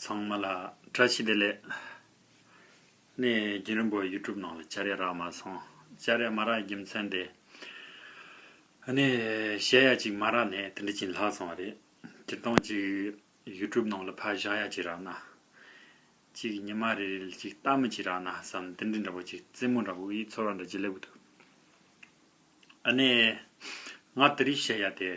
ཚང་མ་ལ་བཀྲ་ཤིས་བདེ་ལེགས། ནས་རྒན་རིན་པོ YouTube ནང་ལ་བཅར་ཡ་རག་མ་སོང། བཅར་ཡ་མ་རག་རྒྱུ་མཚན་དེ། ནས་བཤད་ཡ་ཅིག་མ་རག་ནས་དེ་འདྲ་ཅིག་ལྷག་སོང་བ་རེད། སྤྱིར་བཏང་ཅིག YouTube ནང་ལ་ཕ་བཞག་ཡ་ཅིག་རག་ན། ཅིག་ཉི་མ་རེ་རེ་ལ་ཅིག་ལྟ་མོ་ཅིག་རག་ན་བསམ་དེ་འདྲ་འདྲ་པོ་ཅིག་རྩེད་མོ་འདྲ་པོ་ཡིག་ཚོར་བ་འདྲ་ཅིག་སླེབས་གི་འདུག། ནས་ང་དེ་རིགས་བཤད་ཡ་དེ།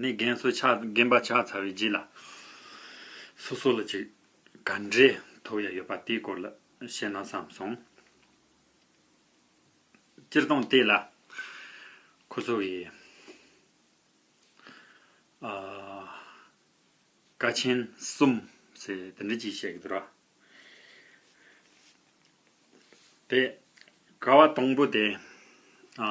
ནི་རྒན་སོ་ཆགས་རྒན་པ་ཆགས་ཚར་བའི་རྗེས་ལ། སོ་སོ་ལ་ཅི་ག་འདྲའི་ཐོབ་ཡ་ཡོད་པ་དེའི་སྐོར་ལ་བཤད་ན་བསམ་སོང། སྤྱིར་བཏང་དེ་ལ་ཁོ་ཚོ་གི་ཨ། ཀ་ཆེན་གསུམ་ཟེར་དེ་འདྲ་ཅིག་བཤད་ཀྱི་འདུག་ར། དེ་ཀ་བ་དང་པོ་དེ་ཨ།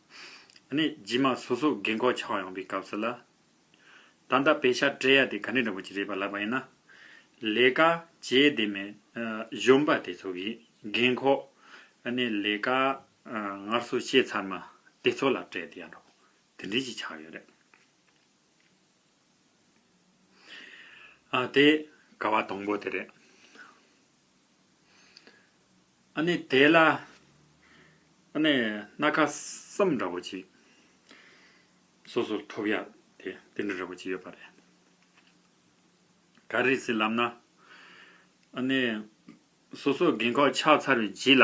ནས་རྗེས་མ་སོ་སོ་རྒན་གོག་ཆགས་ཡོང་པའི་སྐབས་སུ་ལ། ད་ལྟ་བེ་ཤ་སྤྲད་ཡ་དེ་ག་ནི་རིན་པོ་ཆེ་རེད་པ་ལབ་པ་ཡིན་ན། ལས་ཀ་བྱེད་བདེ་མེད་གཞོན་པ་དེ་ཚོ་གིས་རྒན་གོག་ནས་ལས་ཀ་ངར་སོ་བྱས་ཚར་མ་དེ་ཚོ་ལ་སྤྲད་དེ་ཡ་འགྲོ་དེ་འདྲས་ཅིག་ཆགས་ཡོད་རེད། དེ་ག་བ་དང་པོ་དེ་རེད། ཨ་ནི་དེ་ལ། ཨ་ནི་སྣ་ཁ་སྲམ་འདྲ་བོ་ཅིག། སོ་སོར་ཐོབ་ཡག་དེ་དེ་འདྲ་འདྲ་བོ་ཅིག་ཡོད་པ་རེད། ག་རེ་ཟེར་ལབ་ན། ཨ་ནི། སོ་སོ་རྒན་ཁོག་ཆགས་ཚར་བའི་རྗེས་ལ།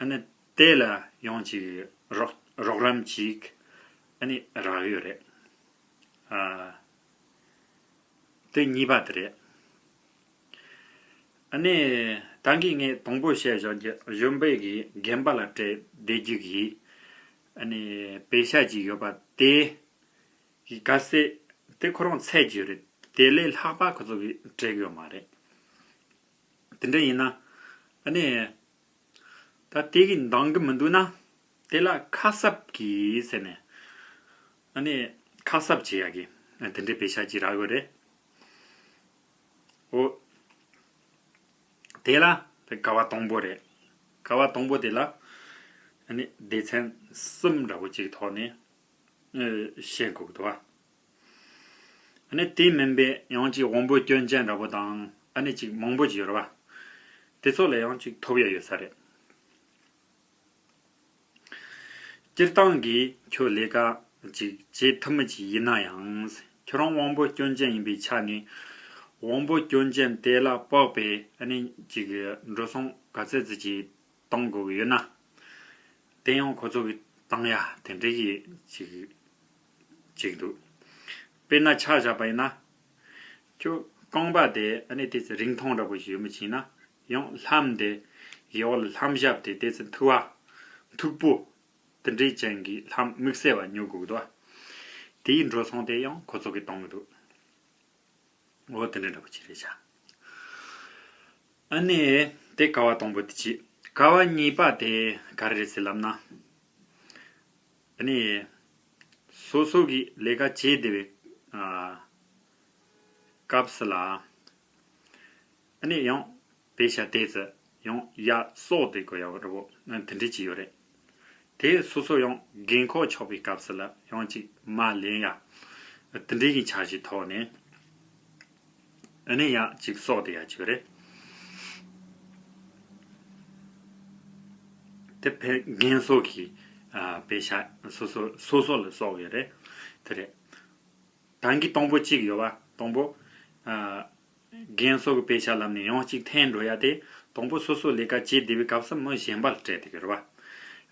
ཨ་ནི་དེ་ལ་ཡང་ཅིག་རོགས་རམ་ཅིག་ཨ་ནི་རག་ཡོད་རེད་ཨ། དེ་གཉིས་པ་དེ་རེད། ཨ་ནི་ད་གིས་ངས་དང་པོ་བཤད་བཞག་རྒྱ་གཞུང་པས་གིས་རྒན་པ་ལ་སྤྲད་བསྡད་རྒྱུ་གིས་ཨ་ནི་བེ་ཤ་ཅིག་ཡོད་པ་དེ་གིས་ག་སྲིད་དེ་ཁོ་རང་ཚད་རྒྱུ་རེད་དེ་ལས་ལྷག་པ་ཁོ་ཚོ་གིས་སྤྲད་གི་ཡོད་མ་རེད། དེ་འདྲ་ཡིན་ན། ཨ་ནི། ད་དེ་གིས་འདང་གི་མི་འདུག་ན། དེ་ལ་ཁ་གསབ་གྱིས་ཟེར་ནས། ཨ་ནི། ཁ་གསབ་བྱེད་ཡག་གི། དེ་འདྲའི་བེ་ཤ་གྱིས་རག་གི་རེད། ཨོ། དེ་ལ་དེ་ཀ་བ་དང་པོ་རེད། ཀ་བ་དང་པོ་དེ་ལ། ཨ་ནི། སྡེ་ཚན་གསུམ་འདྲ་པོ་གཅིག་ཐོག་ནས། བཤད་འགོ་དགོས་འདུག་བ། ནི་དེ་མིན་པའི་ཡང་གཅིག་དབང་པོའི་སྐྱོན་ཅན་འདྲ་པོ་དང་ནི་གཅིག་མང་པོ་གྱི་རུ་བ། དེ་ཚོ་ལ་ཡང་གཅིག་ཐོབ་ཡ་ཡོད་ས་རེད། སྤྱིར་བཏང་གིས་ཁྱོད་ལས་ཀ་གཅིག་བྱེད་ཐུབ་མི་བྱེད་ཡིན་ན་ཡང། ཁྱོད་རང་དབང་པོའི་སྐྱོན་ཅན་ཡིན་པའི་ཆ་ནས། དབང་པོའི་སྐྱོན་ཅན་དེ་ལ་དཔག་པའི་ནི་གཅིག་འགྲོ་སོང་ག་ཚད་ཙི་ཅི་བཏང་དགོས་ཡོད་ན། དེ་ཡང་ཁོ་ཚོ་གིས་བཏང་ཡ་དེ་འདྲ་གི་གཅིག། ཅིག་འདུག། དཔེར་ན་ཆ་བཞག་པ་ཡིན་ན། ཁྱོད་རྐང་པ་དེ་ཨ་ནི་དེ་ཚོས་རིང་ཐུང་འདྲ་པོ་ཞིག་མི་བྱིན་ན་ཡང་ལྷམ་དེ་ཡི་འོག་ལ་ལྷམ་ཞབས་དེ་དེ་ཚོས་མཐུག་བ། མཐུག་པོ། དེ་འདྲའི་ཅན་གྱི་ལྷམ་དམིགས་བསལ་བ་ཉོ་དགོས་འདུག། དེའི་འགྲོ་སོང་དེ་ཡང་ཁོ་ཚོ་གིས་གཏོང་གི་འདུག། འོ་དེ་འདྲ་འདྲ་པོ་ཅིག་རེད་བྱ། ཨ་ནི་དེ་ཀ་བ་དང་པོ་དེ་བྱས། ཀ་བ་གཉིས་པ་དེ་ག་རེ་རེད་ཟེར་ལབ་ན། ནས། སོ་སོ་གིས་ལས་ཀ་བྱེད་བདེ་བའི་སྐབས་ལ། ནས་ཡང་བེ་ཤ་དེས་ཡང་ཡ་སོགས་དེ་གོ་ཡག་རོ་དེ་འདྲི་གྱི་ཡོད་རེད། དེ་སོ་སོ་ཡང་རྒན་ཁོག་ཆགས་པའི་སྐབས་ལ་ཡང་ཅིག་མ་ལན་ཡ་དེ་འདྲི་གི་འཆར་གཞི་ཐོག་ནས། ཨ་ནི་ཡག་གཅིག་སོགས་དེ་ཡག་གཅིག་རེད། དེ་ཕལ་རྒན་སོགས་ཀྱི་བེ་ཤ་སོ་སོ་སོ་སོ་ལ་སོགས་བེ་རེད་དེ་རེད། དང་གི་སྟོང་པོ་གཅིག་ཡོད་བ་སྟོང་པོ། རྒན་སོགས་ཀྱི་བེ་ཤ་ལམ་ནས་ཡང་གཅིག་འཐེན་འགྲོ་ཡ་དེ་སྟོང་པོ་སོ་སོ་ལས་ཀ་བྱེད་བདེ་བའི་སྐབས་སུ་མི་གཞན་པ་ལ་སྤྲད་དེ་གི་རེད་བ།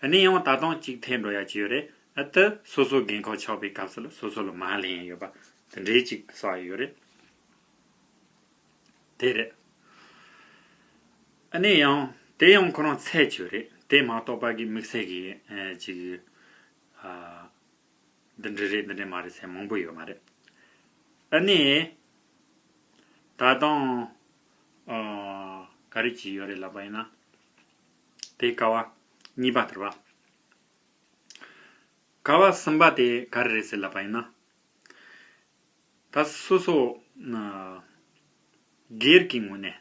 ཨ་ནི་ཡང་ད་དང་གཅིག་འཐེན་འགྲོ་ཡ་གཅིག་ཡོད་རེད་ཨ་ཏི་སོ་སོ་རྒན་ཁག་ཆགས་པའི་སྐབས་སུ་ལ་སོ་སོ་ལ་མ་ལྷན་ཡོད་བ་དེ་འདྲའི་ཅིག་བསགས་ཡོད་རེད། དེ་རེད། ཨ་ནེ་ཡང། དེ་ཡང་ཁོ་རང་ཚད་ཆོས་རེད། དེ་མ་གཏོགས་པ་གིས་དམིགས་བསལ་གྱི། ཅིག། འདི་འདྲ་རེད་འདི་འདྲ་མ་རེད་ཟེར་མང་པོ་ཡོད་མ་རེད། ཨ་ནེ། ད་དང། ག་རེ་བྱས་ཡོད་རེད་ལབ་པ་ཡིན་ན། དེའི་ཀ་བ། གཉིས་པ་དེར་བ། ཀ་བ་གསུམ་པ་དེ་ག་རེ་རེད་ཟེར་ལབ་པ་ཡིན་ན། ད་སོ་སོ། སྒེར་གྱི་ངོས་ནས།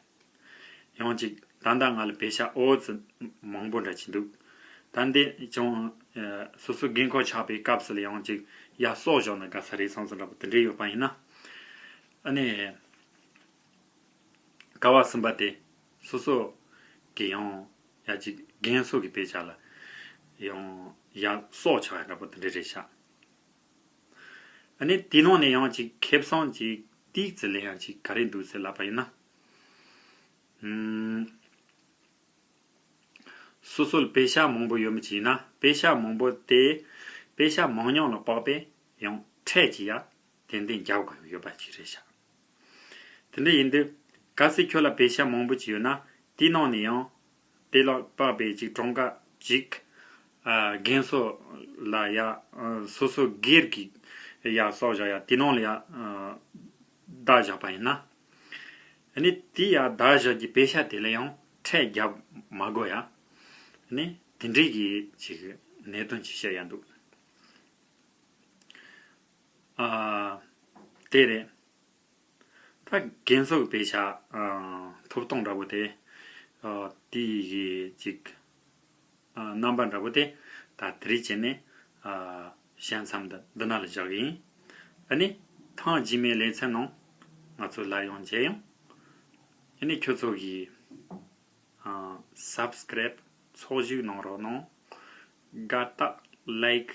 ཡང་ཅིག་ད་ལྟ་ང་ལ་བེ་ཤ་ཨོ་ཙི་མང་པོ་འདྲ་གྱི་འདུག། ད་འདི་ཅང་སོ་སོའི་རྒན་འཁོགས་ཆགས་པའི་སྐབས་སུ་ལ་ཡང་ཅིག་ཡ་སོག་བཞག་ན་དགའ་ས་རེད་སང་སོ་འདྲ་པོ་དེ་འདྲས་ཡོད་པ་ཡིན་ན། ཨ་ནི། ཀ་བ་གསུམ་པ་དེ་སོ་སོ། གི་ཡང་ཡ་ཅིག་རྒན་སོག་གི་བེ་ཤ་ལ། ཡང་ཡ་སོག་ཆགས་ཡ་འདྲ་པོ་དེ་འདྲས་རེད་ཤག། ནས། དེའི་ནང་ནས་ཡང་ཅིག་ཁེ་བཟང་གི་ཏིག་ཙེ་ལས་ཡང་ཅིག་ག་རེ་འདུག་ཟེར་ལབ་པ་ཡིན་ན། སོ་སོལ་བེ་ཤ་མང་པོ་ཡོད་མི་གཅིག་ཡིན་ན་བེ་ཤ་མང་པོ་དེ་བེ་ཤ་མང་ཉང་ལ་དཔག་པས་ཡང་ཕྲད་ཅིག་ཡ་ཏན་ཏན་རྒྱབ་དགོས་ཡོད་པ་ཅིག་རེད་ཤག་དེ་འདྲ་ཡིན་དུས་གལ་སྲིད་ཁྱོད་ལ་བེ་ཤ་མང་པོ་ཅིག་ཡོད་ན་དེའི་ནང་ནས་ཡང་དེ་ལ་དཔག་པའི་ཅིག་གྲངས་ཀ་ཅིག། རྒན་སོགས་ལ་ཡང་སོ་སོ་སྒེར་གྱི་ཡང་སོགས་བཞག་ཡང་དེ་ནང་ལ་ཡང་བརྡ་བཞག་པ་ཡིན་ན། ནི་དེ་ཡང་བརྡ་བཞག་གི་དཔེ་ཆ་དེ་ལ་ཡང་ཕྲད་བརྒྱབ་མ་དགོས་ཡ། ནི་དེ་འདྲའི་གི་ཅིག་གནད་དོན་ཅིག་བཤད་ཡ་འདུག། དེ་རེད། ད་རྒན་གསོ་པའི་བྱ་ཐོབ་སྟོང་འདྲ་པོ་དེ། དེ་ཡི་གཅིག། རྣམ་པ་འདྲ་པོ་དེ། ད་དེ་རིགས་བྱས་ནས། བྱས་མཚམས་འདི་འདི་ན་ལ་བཞག་གི་ཡིན། འདི་ནི་ཐང་རྗེས་མའི་ལེ་ཚན་ནང། ང་ཚོས་སླར་ཡང་མཇལ་ཡོང། འདི་ནི་ཁྱོད་ཚོ་གིས། Subscribe ཚོགས་ཞུགས་གནང་རོགས་གནང། དགའ་རྟགས Like